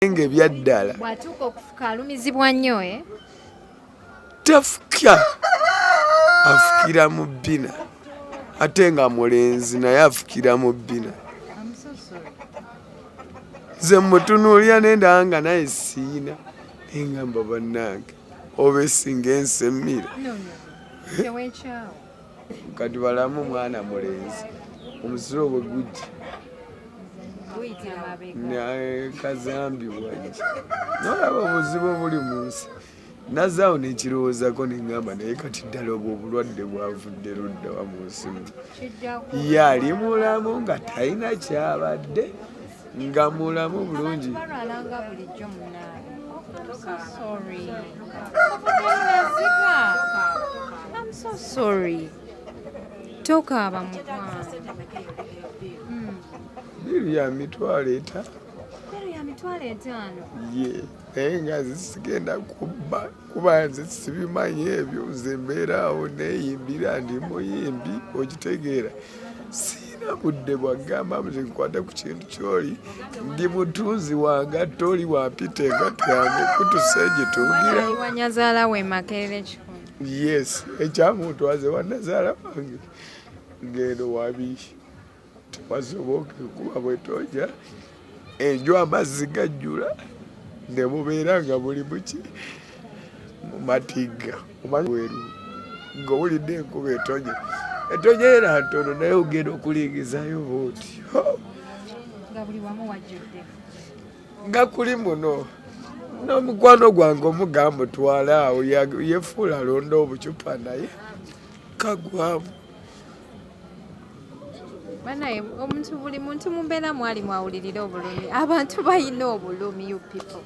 nga ebyaddala bwatuuka okufuka alumizibwa nnyo e eh? tafuka afukira mu bbina ate nga mulenzi naye afukira mu bbina nze mutunuulira nendaa nga naye siina engamba bannange oba esinga ensemira eh? kati balamu mwana mulenzi omusiro bwe gujja kazambi wange nolaba obuzibu obuli mu nsi nazaawo nekirowoozako nengamba naye kati ddala obwo obulwadde bwavudde luddawa mu nsimu ye ali mulamu nga talina kyabadde nga mulamu bulungi balwalanga bulijjo munaani sorry tokaaba mukwano biru ya mitwalo etaano biru ya mitwalo etaano ye naye nga zisigenda kubba kuba nze sibimanyi ebyo nze mbeeraawo neeyimbira ndi muyimbi okitegeera siina budde bwagamba nze nkwata ku kintu kyoli ndi mutunzi wange atte oli wampita engatto yange kutusa egitungirawo yes ekyamuntwaze wanazaala wange ngendo wabiihi wasoboka kuba bwetoja enju amazzi gajjula ne mubeera nga buli muki mu matigga omanyi weru ng'owulidde enkuba etonye etonye era ntono naye ogenda okulingizayo booti nga kuli muno n'omukwano gwange omugamba otwala awo yefuula alonda obucupa naye kagwamu banaye omuntu buli muntu mumbeera mwali mwawulirira obulumi abantu balina obulumi you people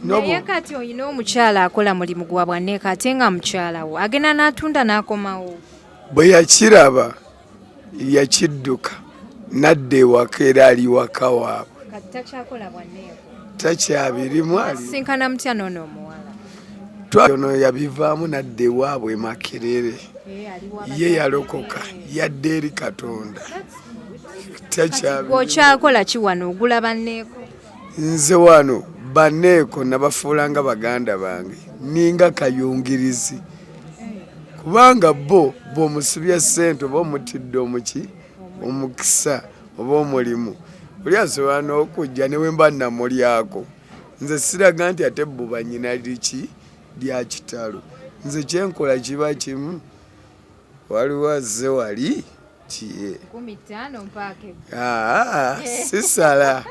naye kati olina omukyala akola mulimu gwa bwaneeka ate nga mukyalawo agenda n'atunda n'akomawo bwe yakiraba yakidduka nadda ewaka era ali waka waabwe takyabirimu alisinkana mutya noono omuwala twaono yabivaamu nadda ewaabwe makerere eh, ye yalokoka yadda eri katonda takyaokyakola kiwano ogula banneeko nze wano banneeko nabafuula nga baganda bange ninga kayungirizi eh. kubanga bo bwomusibya ssente oba omutidde omuki omukisa oba omulimu oli asobola n'okujja ne wemba namulyako nze siraga nti ate buba nyina liki lya kitalo nze kyenkola kiba kimu waliwo azze wali kiye sisala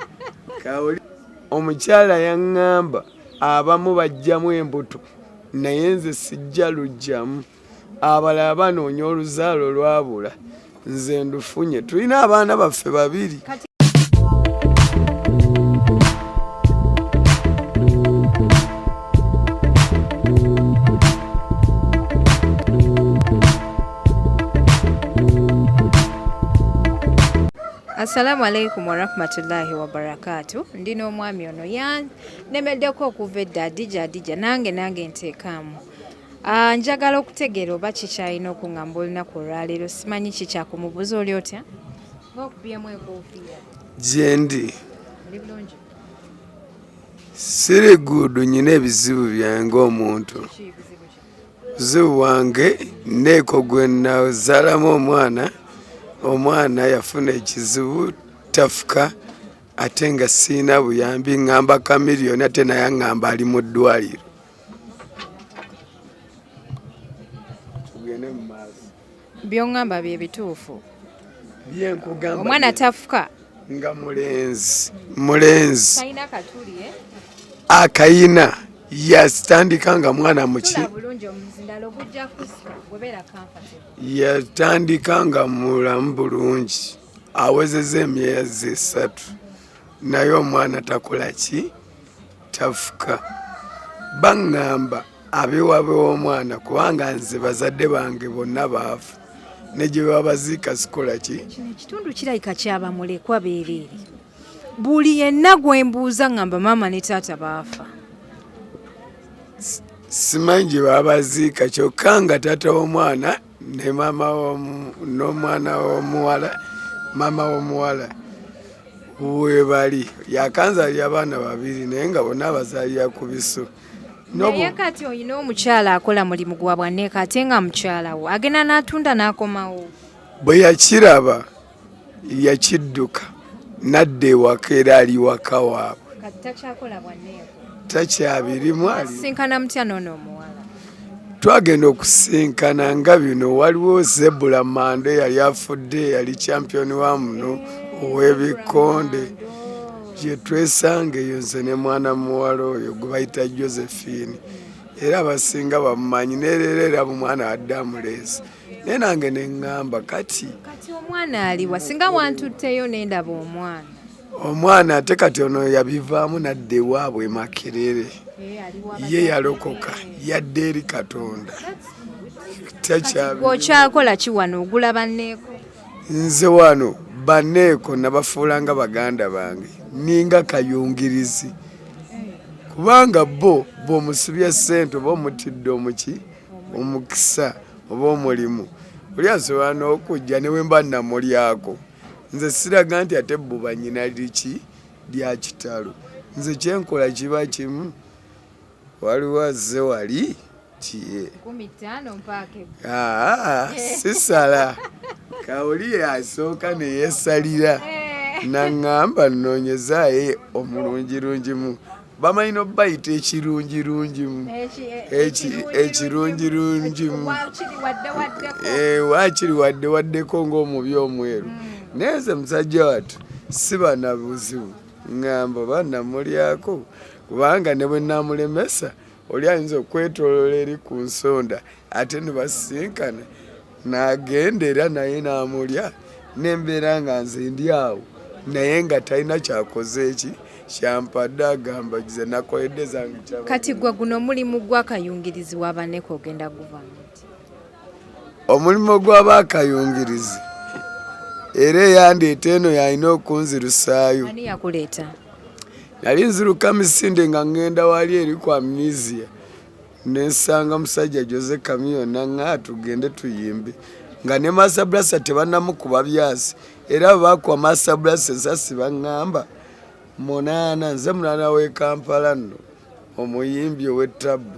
omukyala yaŋŋamba abamu bajjamu embuto naye nze sijja lujjamu abalala banoonya oluzaalo lwabula nze ndufunye tulina abaana baffe babiri Assalamu alaikum warahmatullahi wabarakatu ndi n'omwami ono yanemedeko okuva edda adija adija nange nange nteekaamu Ah, njagala okutegeera oba kikyalina okungamba olunaku olwaleero simanyi kikyakumubuuza oli otya gyendi siri guudu nyina ebizibu byange omuntu buzibu bwange neeko gwe nazalamu omwana omwana yafuna ekizibu tafuka ate nga siina buyambi ngamba kamiliyoni ate naye angamba ali mu ddwaliro byongamba bye bituufu omwana tafuka nga mulenzi mulenzi eh? akayina yatandika nga mwana muki yatandika nga mulamu bulungi awezeza emyezi esatu naye omwana takola ki tafuka baŋŋamba abewabe w'omwana kubanga nze bazadde bange bonna baafu ne gye babaziika sikola ki kino ekitundu kirabika kyaba mulekwa beereere buli yenna gwe mbuuza ŋŋamba maama ne taata baafa simanyi gye babaziika kyokka nga taata w'omwana ne maama n'omwana w'omuwala maama w'omuwala webali yakanzalira abaana babiri naye nga bonna abazalira ku biso naye kati olina omukyala akola mulimu gwa bwanneeka ate nga mukyalawo agenda n'atunda n'akomawo bwe yakiraba yakidduka nadda ewaka era ali waka waabwe takyabirimu twagenda okusisinkana nga bino waliwo zebula mando eyali afudde yali champion wa muno ow'ebikonde gyetwesanga eyo nze ne mwana muwala oyo gwe bayita josephine era abasinga bamumanyi nereera era mumwana wadde amuleesi naye nange neŋŋamba kati kati omwana aliwa singa wantutteyo nendaba omwana omwana ate kati ono yabivaamu nadda ewaabwe makerere eh, ye yalokoka yadde eri katonda okyakola ki wano ogula banneeko nze wano banneeko nabafuula nga baganda bange ninga kayungirizi eh. kubanga bo bwomusibya ssente oba omutidde omuki omukisa oba omulimu oli asobola n'okujja ne wemba namulyako nze siraga nti ate buba nyina liki lya kitalo nze kyenkola kiba kimu waliwo azze wali tiye ah, sisala kawuli asooka neyesalira eh. naŋŋamba nnoonyezaye omulungirungimu bamanyi nobayita ekirungirungimu ekirungirungimu wakiri wadde waddeko ngaomubi omweru hmm. naye nze musajja watu sibanabuzibu ngamba banamulyako kubanga ne bwe namulemesa oli ayinza okwetolola eri ku nsonda ate nebasisinkana nagenda era naye namulya nembeera nga nze ndi awo naye nga talina kyakoze eki kyampadde agamba ze nakoledde zange kati gwe guno omulimu gwakayungirizi wabaneko ogenda guvamu omulimu gw'aba akayungirizi era eyandeeta eno yalina okunzirusaayo nali nziruka misinde nga ŋŋenda wali eri ku amnesia nensanga musajja jose kamiyo naŋa tugende tuyimbe nga ne masabrasa tebanamukuba byasi era bwebakuba masabrasa ensasi baŋŋamba munaana nze munaana w'e kampala nno omuyimbi ow'ettabbu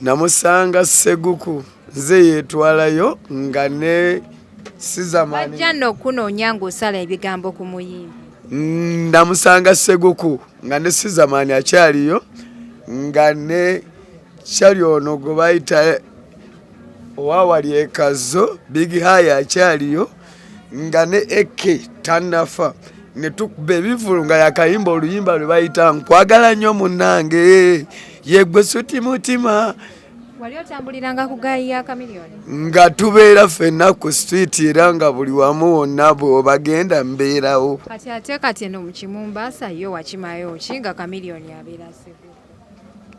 namusanga seguku nze yetwalayo nga ne sizamanja no kunoonya ng'osala ebigambo ku muyimbi namusanga seguku nga ne sizamani akyaliyo nga ne kyali ono gwe bayita owawali ekazo big haya akyaliyo nga ne eke tanafa netukuba ebivulu nga yakayimba oluyimba lwe bayita nkwagala nnyo munange yegwe suti mutima wali otambuliranga ku gaayi ya kamiliyoni nga tubeera ffenna ku street era nga buli wamu wonna bwobagenda mbeerawo kati ate kati eno mukimumbaasa yo wakimayo ki nga kamiliyoni abeera segu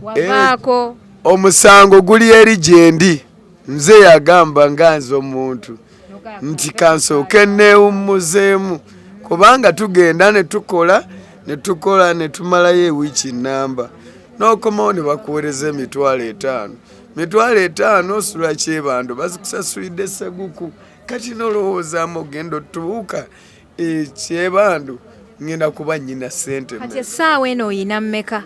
wavaako eh, omusango guli eri gyendi nze yagamba nga nze omuntu nti kansooke neewummuzeemu kubanga tugenda ne tukola ne tukola ne tumalayo ewiiki nnamba n'okomawo ne bakuweereza emitwalo etaano mitwalo etaano osula kyebando bazikusasulidde seguku kati nolowoozaamu ogenda otubuuka ekyebandu eh, ngenda kuba nyina sente kati essaawa eno oyina mmeka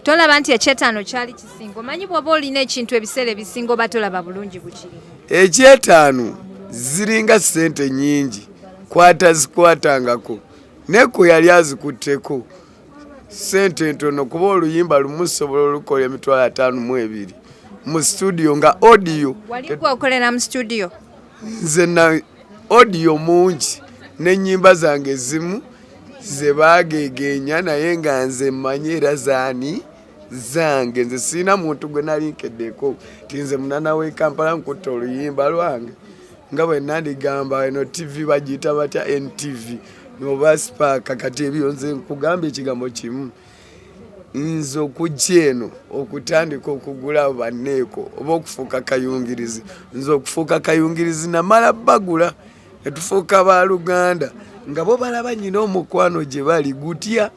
tolaba nti ekyetaano kyali kisinga omanyi bwoba olina ekintu ebiseera ebisinga oba tolaba bulungi bukiri ekyetaano ziringa sente nyingi kwata zikwatangako neko yali azikutteko sente ntono kuba oluyimba lumu sobola olukola emitwalo ataano mu ebiri mu studio nga audio wali gweokolera mu studio nze na odiyo mungi n'ennyimba zange ezimu ze baageegeenya naye nga nze mmanyi era zaani zange nze sirina muntu gwe nali nkeddeeko ti nze munana w'e kampala nkutta oluyimba lwange nga bwe nandigamba eno tivi bagiyita batya ntv noba sipaaka kati ebyo nze nkugamba ekigambo kimu nze okujja eno okutandika okugula banneeko oba okufuuka kayungirizi nze okufuuka kayungirizi namala bagula netufuuka ba luganda nga bo balaba nyina omukwano gye bali gutya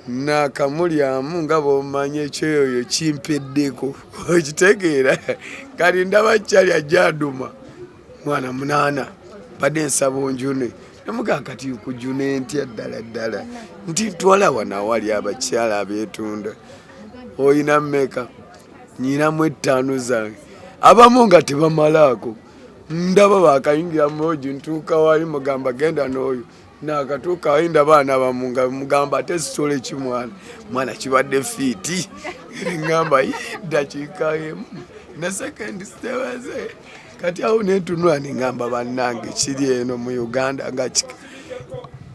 nakamulyamu nga bwomanyi ekyoyoyo kimpeddeko okitegeera kali ndaba kyali ajja aduma mwana munaana badde nsaba onjune namugaa kati kujune ntya ddala ddala nti twala wano awali abakyala abetunda oyina meka nyinamu ettaano zange abamu nga tebamalaako ndaba bakayingira muoji ntuuka wali mugamba genda n'oyo nakatuuka ayi ndaba ana bamu nga mugamba ate sitola ekimwana mwana kibadde fiiti ngamba yiddakiika emu naseka ndi sitewaze kati awo nentunula nengamba bannange kiri eno mu uganda nga kika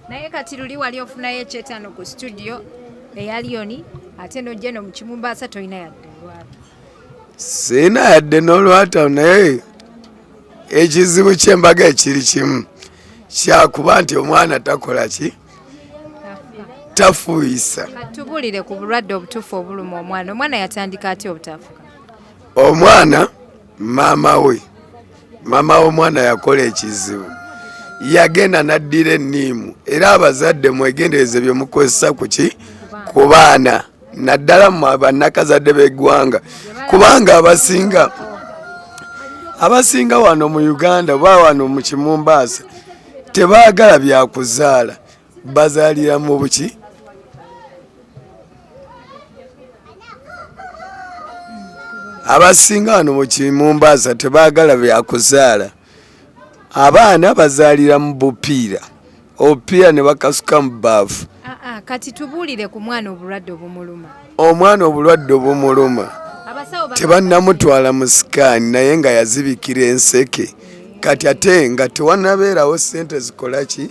naye kati luli wali ofunayo ekyetano ku studio eya lioni ate nojja no mukimumbaasa tolina yadde siina yadde n'olwata naye ekizibu ky'embaga ekiri kimu kyakuba nti omwana takola ki tafuuyisa tubulire ku bulwadde obutuufu obuluma omwana omwana yatandika atya obutafuka omwana maama we maama w'omwana yakola ekizibu yagenda n'addira enniimu era abazadde mwegendereze bye mukozesa ku ki ku baana naddala mu bannakazadde b'eggwanga kubanga abasinga abasinga wano mu uganda oba wano mu kimumbaasa tebaagala byakuzaala bazaaliramu buki abasinga wano mukimumbaasa tebagala byakuzaala abaana bazaalira mu bupiira obupiira ne bakasuka mu baafu ah, ah, kati tubuulire ku mwana obulwadde obumuluma omwana obulwadde obumuluma tebannamutwala mu sikaani naye nga yazibikira enseke kati ate nga tewanabeerawo sente zikola ki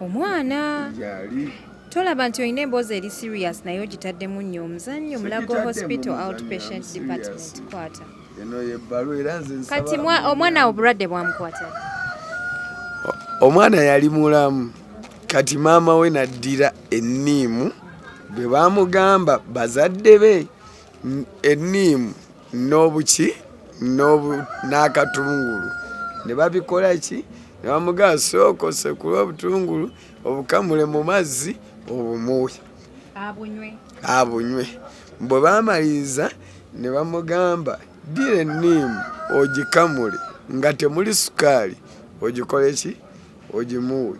omwana yali tolaba nti olina emboozi eri serious naye ogitaddemu nnyo omuzannyo mulago hospital outpatient department kwata eno yebbalu era nze kati omwana awo bulwadde bwamukwata omwana yali mulamu kati maama we naddira enniimu bwe bamugamba bazadde be enniimu n'obuki n'akatungulu ne babikola ki ne bamugaa sooka osekule obutungulu obukamule mu mazzi obumuwe abunywe bwe bamaliriza ne bamugamba ddira enniimu ogikamule nga temuli sukaali ogikole ki ogimuwe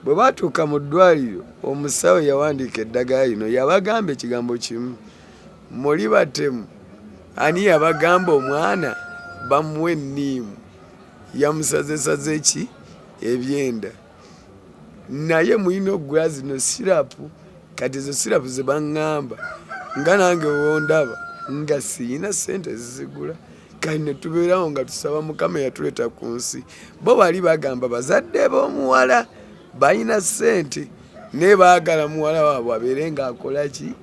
bwe baatuuka mu ddwaliro omusawo yawandiika eddagala lino yabagamba ekigambo kimu Muli batemu ani yabagamba omwana bamuwe niimu yamusazesaze ki ebyenda naye mulina okugula zino sirapu kati ezo sirapu zebaŋŋamba nga nange wondaba nga siyina sente ezizigula kati netubeerawo nga tusaba mukama eyatuleeta ku nsi bo bali bagamba bazadde b'omuwala balina sente naye baagala muwala waabwe abeere ng'akola ki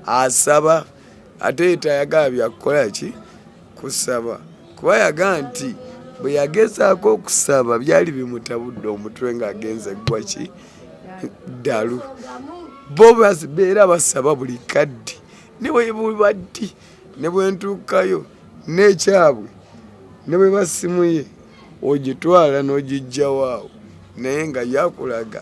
asaba ate yetayagala byakukola ki kusaba kuba yaga nti bwe yagezaako okusaba byali bimutabudde omutwe ng'agenze ggwa ki ddalu bo beera basaba buli kaddi ne bwe buba ddi ne bwe ntuukayo n'ekyabwe ne bwe basimuye ogitwala n'ogijjawaawo naye nga yakulaga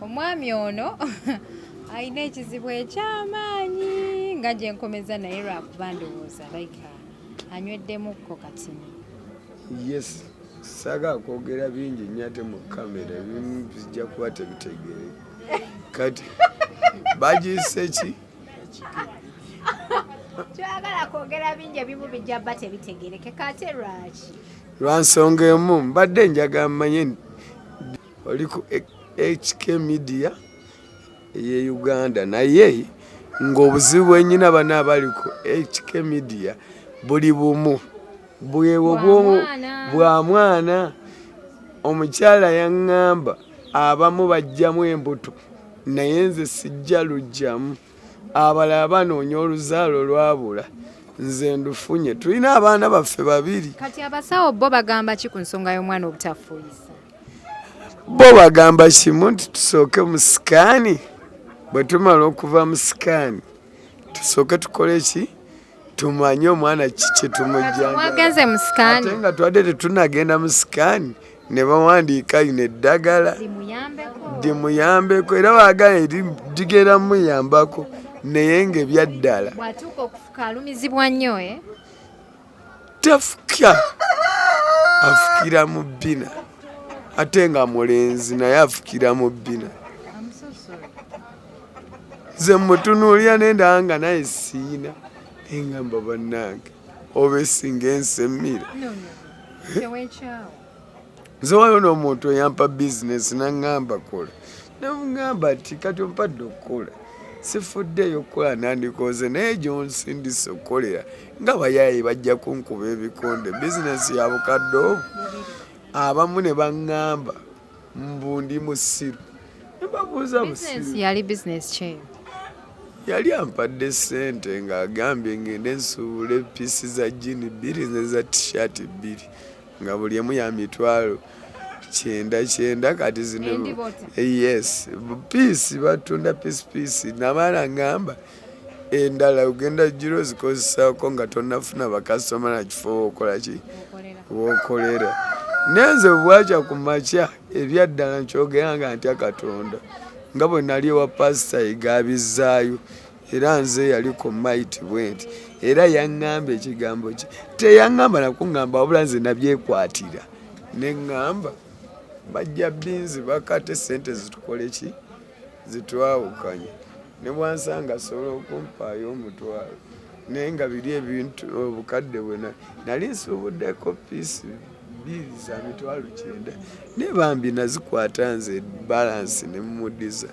Omwami ono alina ekizibu ekyamaanyi nga gye nkomeza naye lwakuba ndowooza like anyweddemukko katini. Yes, saga kwogera bingi nnyo ate mu kamera ebimu bijja kuba tebitegere kati bagiyise ki kyoyagala kwogera bingi ebimu bijja ba tebitegerekeka ate lwaki lwa nsonga emu mbadde njagala mmanye oli ku HK Media eye Uganda naye ng'obuzibu bwenyina bana abali ku HK Media buli bumu bwewo bwa mwana omukyala yaŋŋamba abamu bajjamu embuto naye nze sijja lujjamu abalala banoonya oluzaalo lwabula nze ndufunye tulina abaana baffe babiri kati abasawo bo bagamba ki ku nsonga y'omwana obutafuuyisa bo bagamba kimu nti tusooke mu sikaani bwe tumala okuva mu sikaani tusooke tukole ki tumanye omwana kiki tumujjanga nga twadde tetunagenda mu sikaani ne bawandiika lino eddagala limuyambeko era baagala eri ligenda muyambako naye ngaebyaddala eh? tafukya afukira mu bbina ate nga mulenzi naye afukira mu bbina nze mutunuulira nendaa nga naye siina engamba bannange oba esinga ensemira no, no. nze waliwo n'omuntu eyampa bizinesi naŋŋamba kola namuŋŋamba nti kati ompadde okukola sifuddeeyo okukola nandikooze naye gyonsindisa okukolera nga bayaaye bajja kunkuba ebikonde bizinesi ya bukadde obu abamu ne baŋŋamba mbu ndi musiru mbabuuza musiru yali bizinesi kyeyo yali ampadde sente ng'agambye ng'ende nsuubule piisi za jini bbiri nze za tishati bbiri nga buli emu ya mitwalo kyenda kyenda kati zino yes piisi batunda piisi piisi nabaana ngamba endala ogenda jjira ozikozesaako nga tonafuna bakasitoma nakifo wokolaki wokolera nenze bwakya ku makya ebyaddala nkyogera nga ntya katonda nga bwe nali ewa pasita egabizaayo era nze yali ku maiti bwe nti era yaŋŋamba ekigambo kye teyaŋŋamba nakuŋŋamba wabula nze nabyekwatira ne ŋŋamba bajja binzi bakate sente zitukoleki zitwawukanye ne bwansanga asobola okumpaayo omutwalo naye nga biri ebintu obukadde bwena nali nsuubuddeko piisi bbiri za mitwalo kyenda naye bambi nazikwata nze balansi ne mumudiza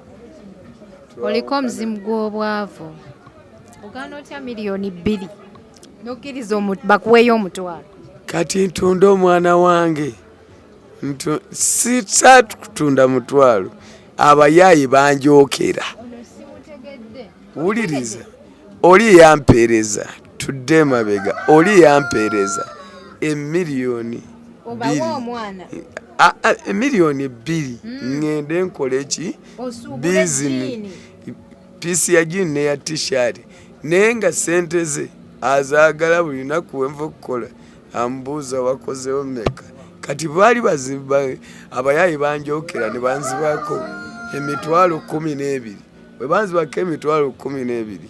oliko omuzimu gw'obwavu ogaana otya miliyoni bbiri nokkiriza bakuweeyo omutwalo kati ntunda omwana wange sisatu kutunda mutwalo abayaaye banjokera wuliriza oli yampeereza tudde emabega oli yampeereza emiliyoni emiliyoni bbiri hmm. ŋŋende nkola eki bizini piisi ya jini neya tishati naye nga sente ze azaagala buli lunaku wenva okukola ambuuza wakozewo meka kati baali bazimba abayaayi banjokera ne banzibako emitwalo kumi n'ebiri bwe banzibako emitwalo kumi n'ebiri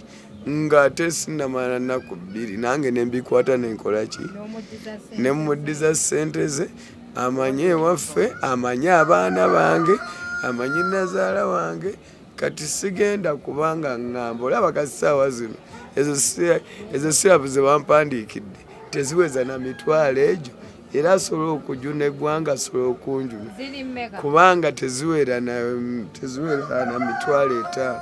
ng'ate sinamala nnaku bbiri nange ne mbikwata ne nkola ki ne muddiza ssente ze amanye ewaffe amanye abaana bange amanyi nazaala wange kati sigenda kubanga ŋŋamba olaba ka ssaawa zino ezo sirapu ze bampandiikidde teziweza na mitwalo egyo era asobola okujuna eggwanga asobola okunjuna kubanga teziwera na mitwalo etaano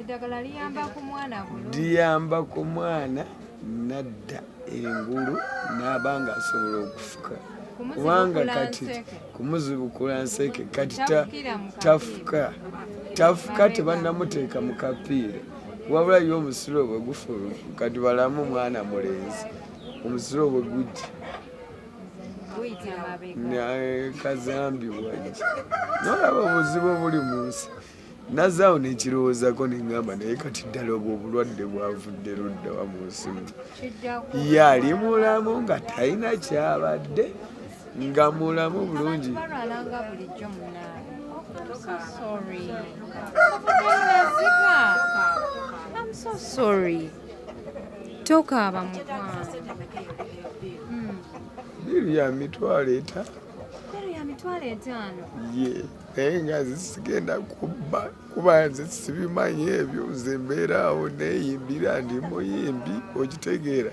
eddagala liyamba ku mwana bulungi liyamba ku mwana nadda engulu n'aba nga asobola okufuka kubanga kati kumuzibukula nseke kati tafuka tafuka tebanamuteeka mu kapiira wabula yo omusiro bwe gufulu kati balamu mwana mulenzi omusiro bwe gujja kazambi wajja nolaba obuzibu obuli mu nsi nazaawo nekirowoozako nengamba naye kati ddala obwo obulwadde bwavudde luddawa mu nsimu yali mulamu nga talina kyabadde nga mulamu bulungi tokaaba mukwano hmm. biru ya mitwalo etaano ye yeah. naye nga nze sigenda kubba kuba nze sibimanyi ebyo nze mbeera awo neyimbira ndi muyimbi okitegeera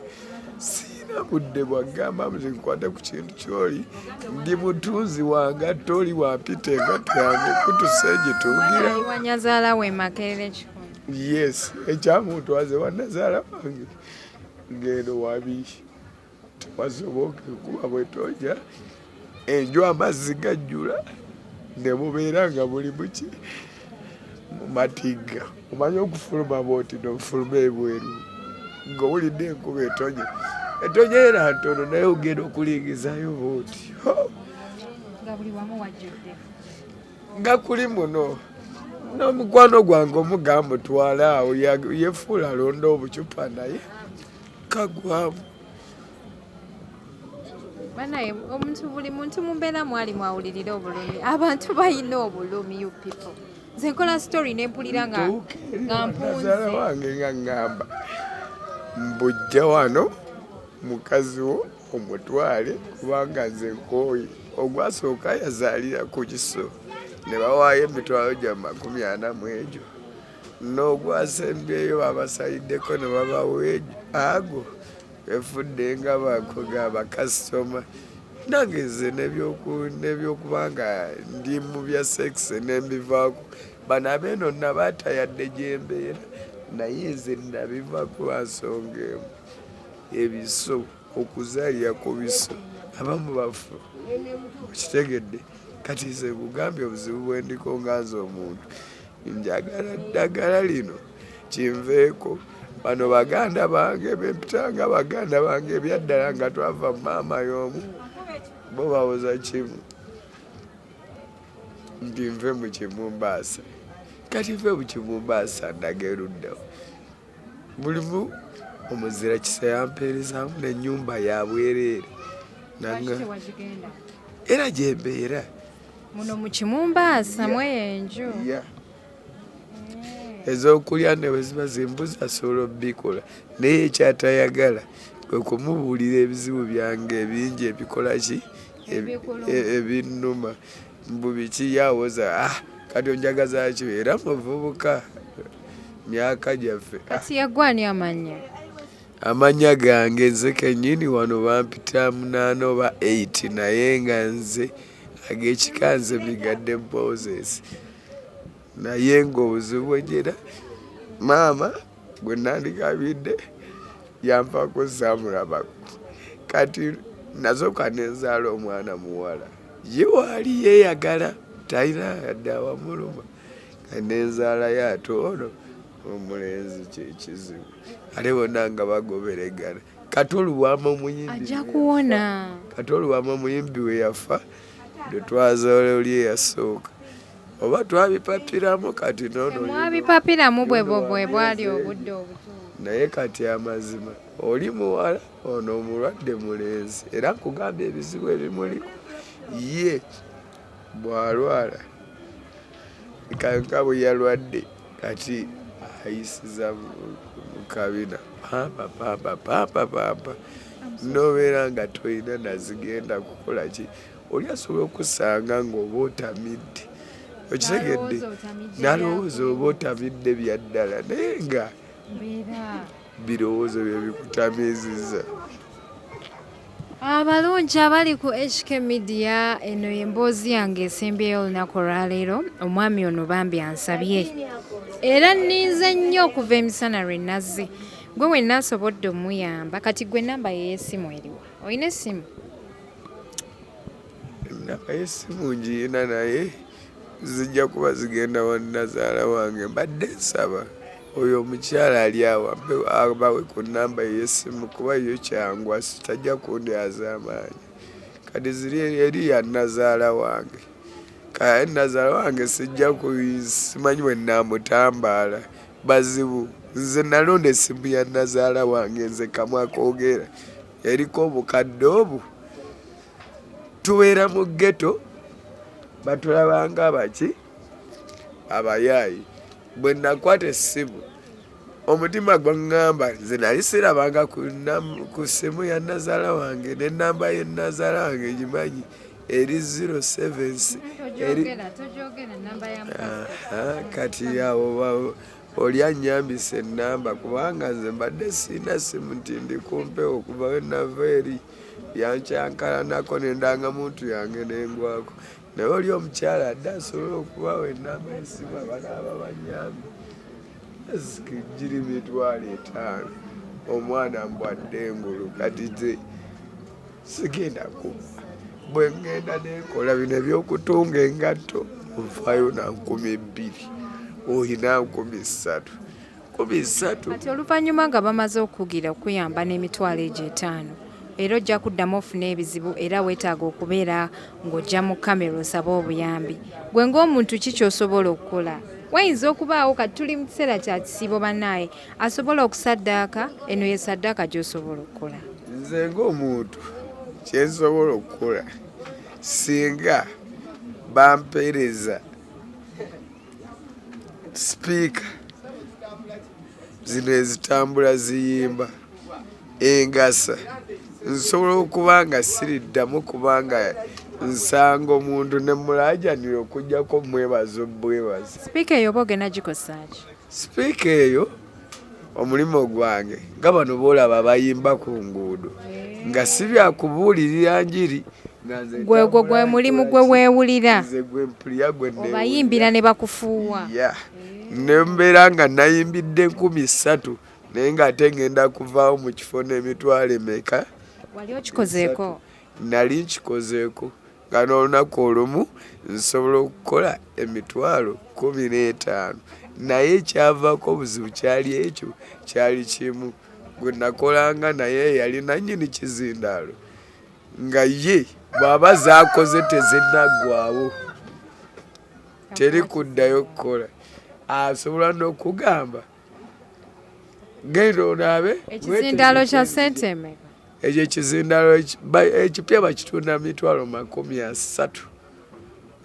siina budde bwagamba nze nkwata ku kintu kyoli ndi mutunzi wanga toli wampita engatto yange kutuse gitungirawanyazaala we makerere kyo yes ekyamuntu aze wanazaala wange ngendo wabiishi wasoboka kuba bwetonya enju amazzi gajjula nebubeera nga buli muki mumatigga omanye okufuluma bwoti nofuluma ebweru nga owulidde enkuba etonya etonya era ntono naye ogenda okulingizayo bwoti nga kuli muno nomukwano gwange omugamba otwala awo yefuula alonda obucupa naye kagwamu banaye omuntu buli muntu mumbeera mwali mwawulirira obulumi abantu balina obulumi you people nze nkola story nempulira nga mpunzala wange nga ngamba mbujja wano mukazi wo omutwale kubanga nze nkooyi ogwasooka yazaalira ku kiso ne bawaayo emitwalo gya makumi ana mu egyo n'ogwasembyeyo babasayiddeko ne babawa ago efudde nga bakoga bakasitoma nange nze nebyokuba nga ndi mu bya sekisi nembivaako bano abeeno nabaata yadde gyembeera naye nze nabivako lwansonga emu ebiso okuzaalira ku biso abamu bafu okitegedde kati nze nkugambye obuzibu bwendiko nga nze omuntu njagala ddagala lino kinveeko bano baganda bange bempitanga baganda bange ebyaddala nga twava maama y'omu bo bawoza kimu nti nve mu kimumbaasa kati nve mu kimumbaasa ndaga eruddawo bulimu omuzira kisa yampeerezaamu nenyumba yabwereere era gyembeera muno mukimumbaasa mweyo enju ezokulya neweziba zimbuza sobola obikola naye ekyatayagala kwekumubuulira ebizibu byange ebingi ebikolaki ebinuma mbu biki yawoza ah, kati onjagazaki era muvubuka myaka gyaffe ah. kati yagwani amanya amanya gange nze kenyini wano bampita munaana oba 8 naye nga nze agekika nze migadde boses naye ngaobuzibu bwejera maama Gwe nandigabidde yanvaako saamulabako kati nazoka nenzaala omwana muwala ye waali yeyagala talina yadde awamuluma nenzaalayo ate ono omulenzi kyekizibu ale bona nga bagoberegana kati oluwama omuyimbiajakuwona kati oluwama omuyimbi weyafa lwetwazoole oli eyasooka oba twabipapiramu kati nonmwabipapiramu bwebobwe bwali obudde obutu naye kati amazima oli muwala ono omulwadde mulenzi era nkugamba ebizibu ebimuliko ye bwalwala kanka bwe yalwadde kati ayisiza mukabina pampa pampa pampa pampa nobeera nga tolina nazigenda kukolaki Oli asobola okusanga nga oba otamidde okitegedde nalowooza oba otamidde byaddala naye nga birowoozo byebikutamiziza abalungi abali ku hk media eno emboozi yange esembyeyo olunaku olwaleero omwami ono bambi ansabye era ninze nnyo okuva emisana lwe nazze gwe wenna asobodde omuyamba kati gwe namba yeyesimu eriwa olina essimu naye si mungi yina naye zijja kuba zigenda wa nazaala wange mbadde nsaba oyo omukyala ali awo abawe ku namba eyesimu kuba yo kyangu asitajja kundi azaamaanyi kati ziri eri ya nazaala wange kati nazaala wange sijja simanyi bwe namutambaala bazibu nze nalonda esimu ya nazaala wange nze kamwa kogera eriko obukadde obwo tubeera mu ghetto batulabanga abaki abayaayi bwe nakwata essimu omutima gwaŋŋamba nze nali sirabanga ku ssimu ya nazaala wange ne namba ye nazaala wange ngimanyi eri 07 kati awo Oli annyambise ennamba kubanga nze mbadde sirina ssimu nti ndi ku mpewo okuva we nava eri yankyankalanako n'endangamuntu yange n'engwako naye oli omukyala adde asobola okubawa ennamba y'essimu abanaaba bannyambi sikijjiri mitwalo etaano omwana mbwadde engulu kati sigenda kubba bwe ngenda nekola bino ebyokutunga engatto nfaayo na nkumi bbiri olina nkumi ssatu nkumi ssatu kati oluvannyuma nga bamaze okugira okuyamba n'emitwalo egyo etaano era ojja kuddamu ofuna ebizibu era weetaaga okubeera ng'ojja mu kamera osabe obuyambi gwe ng'omuntu ki kyosobola okukola wayinza okubaawo kati tuli mu kiseera kya kisiibo banaaye asobola okusaddaaka eno ye saddaaka gy'osobola okukola nze ng'omuntu kyensobola okukola singa bampeereza sipiika zino ezitambula ziyimba engasa nsobola okuba nga siriddamu kubanga nsanga omuntu ne mulajanira okujjako mwebaza obwebaza sipiika eyo oba ogenda gikosaaki sipiika eyo omulimu gwange nga bano boolaba bayimba ku nguudo nga si byakubuulirira njiri gwegwo gwe mulimu gwe weewulira obayimbira ne bakufuuwa ne mbeera nga nayimbidde enkumi ssatu naye ng'ate ngenda kuvaawo mu kifo n'emitwalo emeka wali okikozeeko nali nkikozeeko Gano olunaku olumu nsobola okukola emitwalo kumi n'etaano naye ekyavaako obuzibu kyali ekyo kyali kimu gwe nakolanga naye yali nannyini kizindaalo nga ye bw'aba zaakoze tezinaggwawo teri kuddayo kukola asobola n'okugamba genda onaabe ekizindalo kya sente emeka ekyo ekizindalo ekipya bakitunda mitwalo makumi asatu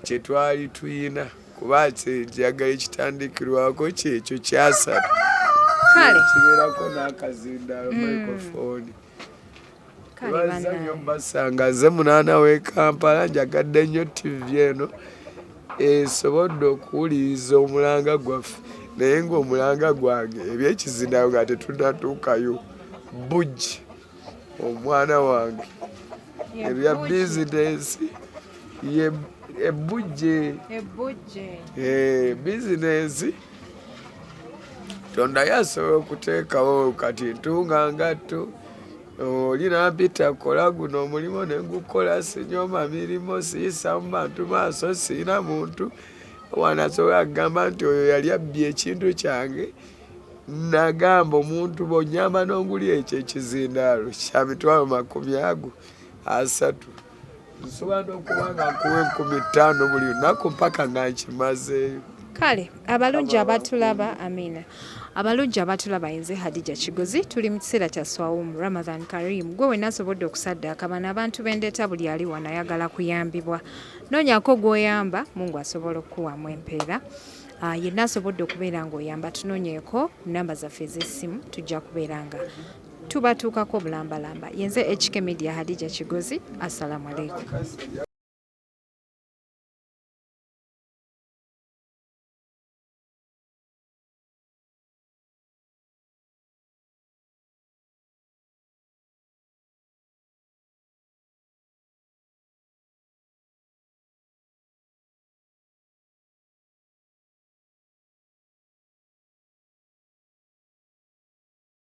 kyetwali tuyina kuba kyeyagala ekitandikirwako kyekyo kyasatu kibeerako n'akazindalo mm. microphone bazanyo basanga nze munaana w'e kampala njagadde nnyo tivi eno esobodde okuwuliriza omulanga gwaffe naye ng'omulanga gwange ebyekizinayo nga tetunatuukayo bujji omwana wange ebya bizinesi ye ebbujje ebbujje ee eh, bizinensi tonda yasobola okuteekawo kati ntunga ngatto oli nampita kola guno omulimu nengukola sinyoma mirimu siyisa mu bantu maaso siyina muntu wanasobola kugamba nti oyo yali abbye ekintu kyange nagamba omuntu bonyamba nonguli ekyo ekizindaalo kyamitwalo makumi ago asatu nsobola n'okuba nga nkuwa enkumi ttaano buli lunaku mpaka nga nkimazeeyo kale abalungi abatulaba amina abalungi abatulaba yenze hadija kigozi tuli mu kiseera kya swawum ramadan karim gwe wena asobodde okusaddaaka bano abantu bendeeta buli ali wano ayagala kuyambibwa noonyako gwoyamba mungu asobola okukuwamu empeera ah, yenna asobodde okubeera ngaoyamba tunoonyeeko namba zaffe ez'essimu tujja kubeera nga tubatuukako bulambalamba yenze HK Media Hadija Kigozi assalamu alaikum